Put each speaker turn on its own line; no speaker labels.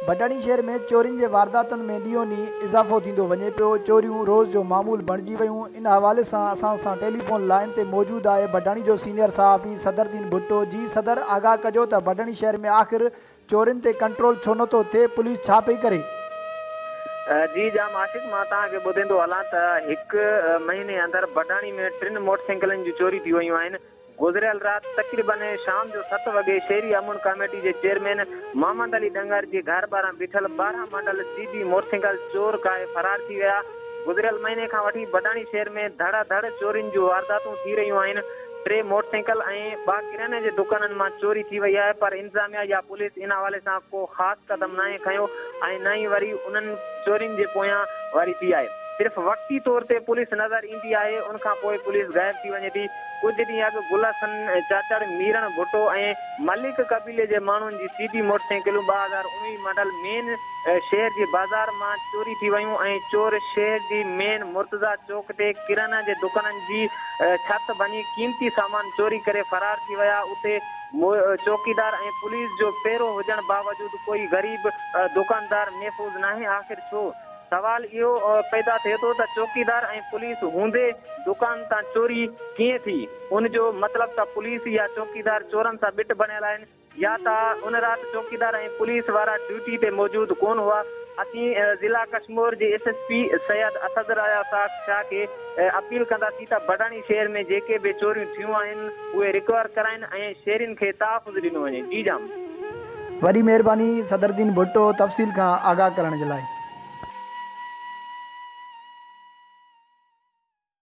ڀٽاڻي شهر ۾ چورين جي وارداتن ۾ ڏينهون ڏينهن اضافو ٿيندو وڃي پيو، چوريون روز جو معمول بڻجي ويون، ان حوالي سان اسان سان ٽيليفون لائين تي موجود آهي ڀٽاڻي جو سينيئر صحافي صدر الدين ڀٽو، جي صدر آگاهه ڪجو ته ڀٽاڻي شهر ۾ آخر چورين تي ڪنٽرول ڇو نٿو ٿئي پوليس ڇا پئي ڪري.
جي جام عاشق مان توهان کي ٻڌيندو هلان ته هڪ مهيني اندر بڊاڻي ۾ ٽن موٽرسائيڪلن جون چوري ٿي ويون آهن گذريل رات تقريبن شام جو ست وڳي شهري امن ڪاميٽي جي چيئرمين محمد علي ڏنگر جي گهر ٻاهران بيٺل ٻارهن ماڊل سي بي موٽرسائيڪل چور ڪاهي فرار ٿي ويا گذريل مهيني کان وٺي بڊاڻي شهر ۾ ڌڙا ڌڙ چورين جون وارداتون ٿي رهيون آهن ٽي موٽر سائيڪل ۽ ٻه ڪرياني جي دڪانن مان چوري ٿي وئي آهي پر انتظاميا يا پوليس ان حوالي سان ڪو خاص قدم ناهي کنيو ۽ نه ئي وري انهن چورين جي پويان واري ٿي آهي صرف وقتي طور تي پوليس نظر ايندي آهي ان کان پوء پوليس غائب ٿي وڃي ٿي ڪجهه ڏينهن اڳ گل حسن چاچڙ ميرڻ ڀٽو ۽ ملڪ قبيلي جي ماڻهن جي سي ڊي موٽر سائيڪلون ٻه هزار اڻويهه ماڊل مين شهر جي بازار مان چوري ٿي ويون ۽ چور شهر جي مين مرتضيٰ چوڪ تي ڪريانه جي دڪانن جي ڇت ڀڃي قيمتي سامان چوري ڪري فرار ٿي ويا، اتي چوڪيدار ۽ پوليس جو پهرو هجڻ باوجود ڪوئي غريب دوڪاندار محفوظ ناهي آخر ڇو؟ سوال اهو پيدا ٿئي ٿو ته چوڪيدار ۽ پوليس هوندي دوڪان تان چوري ڪيئن ٿي؟ ان جو مطلب ته پوليس يا چوڪيدار چورن سان ٻٽ بڻيل آهن، يا ته ان رات چوڪيدار ۽ پوليس وارا ڊيوٽي تي موجود ڪون هئا. اسين ضلع ڪشمور جي S S P Syed Asad رايا ساخ شاهه کي اپيل ڪنداسين ته بڊاڻي شهر ۾ جيڪي به چوريون ٿيون آهن اهي رڪور ڪرائين ۽ شهرين کي تحفظ ڏنو وڃي. جي جام.
وڏي مهرباني صدرالدين ڀٽو تفصيل کان آگاهه
ڪرڻ
جي لاء.